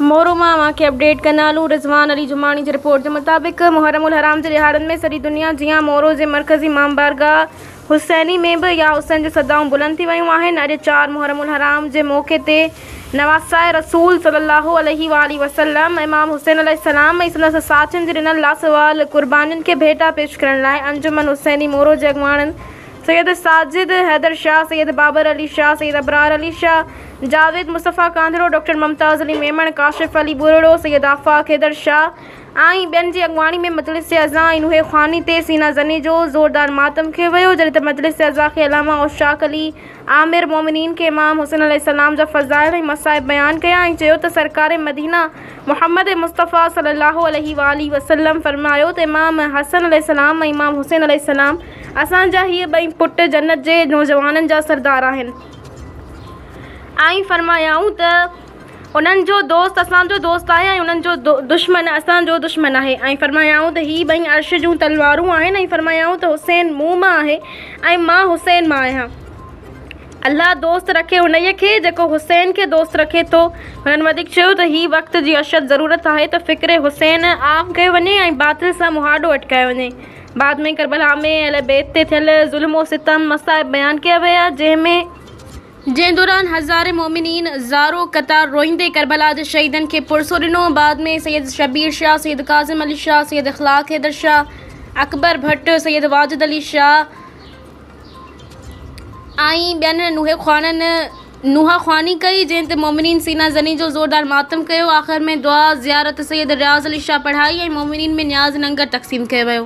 مورو مان اوهان کي اپڊيٽ ڪندا هلون رضوان علي جماڻي جي رپورٽ جي مطابق محرم الحرام جي ڏهاڙن ۾ سڄي دنيا جيان مورو جي مرڪزي امام بارگاهه حسيني ۾ به يا حسين جون صدائون بلند ٿي ويون آهن اڄ چار محرم الحرام جي موقعي تي نواسائي رسول صلي الله عليه واٰله وسلم امام حسين عليه السلام ۽ سندس ساٿين جي ڏنل لازوال قربانين کي ڀيٽا پيش ڪرڻ لاء انجمن حسيني مورو جي اڳواڻن سيد ساجد حيدر شاهه، سيد بابر علي شاهه، سيد ابرار علي شاهه، جاويد مصطفيٰ ڪانڌڙو، ڊاڪٽر ممتاز علي ميمڻ، ڪاشف علي ٻرڙو، سيد آفاق حيدر شاهه ۽ ٻين جي اڳواڻي ۾ مجلس جي اعضا ۽ نوحي خواني تي سينا زني جو زوردار ماتم ڪيو ويو، جڏهن ته مجلس جي اعضا کي علامه اوشاق علي آمر مؤمنين کي امام حسين عليه السلام جا فضائل ۽ مصائب بيان ڪيا ۽ چيو ته سرڪار مدينه محمد مصطفيٰ صلّي اللّٰه عليه واٰله وسلّم فرمايو ته امام حسن عليه السلام ۽ امام حسين عليه السلام اسان جا هي ٻئي پٽ جنت جي نوجوانن جا سردار آهن. ائين فرمايائون ته انهن جو دوست اسان جو دوست آهي ۽ انهن جو دشمن اسان جو دشمن آهي. ائين فرمايائون ته هي ٻئي عرش جون تلوارون آهن ۽ فرمايائون ته حسين مون مان آهي ۽ مان حسين مان آهيان. الله دوست رکي انهيء کي جيڪو حسين کي دوست رکي ٿو. هنن وڌيڪ چيو ته هي وقت جي اشد ضرورت آهي ته فڪر حسين عام ڪيو وڃي ۽ باطل سان مهاڏو اٽڪايو وڃي. بعد ۾ ڪربلا ۾ اهل بيت تي ٿيل ظلم و ستم، مصائب بيان ڪيا ويا، جنهن ۾. جنهن دوران هزارين مومنين زارو قطار روئيندي ڪربلا جي شهيدن کي پرسو ڏنو، بعد ۾ سيد شبير شاهه، سيد ڪاظم علي شاهه، سيد اخلاق حيدر شاهه، اڪبر ڀٽ، سيد واجد علي شاهه ۽ ٻين نوحي خوانن، نوحه خواني ڪئي، جنهن تي مومنين سينا زني جو زوردار ماتم ڪيو. آخر ۾ دعا، زيارت سيد رياض علي شاهه پڙهائي ۽ مومنين ۾ نياز ننگر تقسيم ڪيو ويو.